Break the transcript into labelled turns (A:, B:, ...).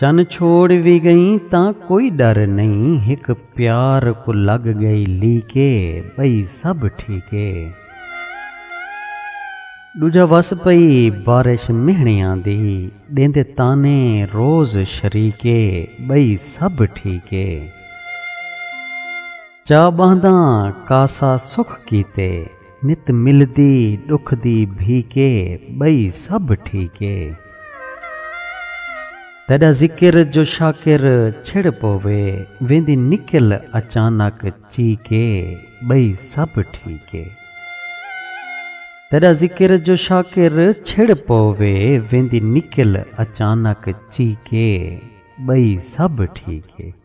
A: چن چھوڑ وی گئیں تاں کوئی ڈر نئیں ہک پیار کوں لگ گئی لیکے بئی سب ٹھیکے ڈوجھا وس پئی بارش مہنڑیاں دی ڈیندے طعنے روز شریکے بئی سب ٹھیکے چا بہنداں کاسا سکھ کیتے نت ملدی ڈکھ دی بھیکے بئی سب ٹھیکے۔ تیڈا ذکر جو شاکر چھڑ پووے ویندی نکل اچانک چیکے بئی سب ٹھیکے۔ تیڈا ذکر جو شاکر چھڑ پووے ویندی نکل اچانک چیکے بئی سب ٹھیکے۔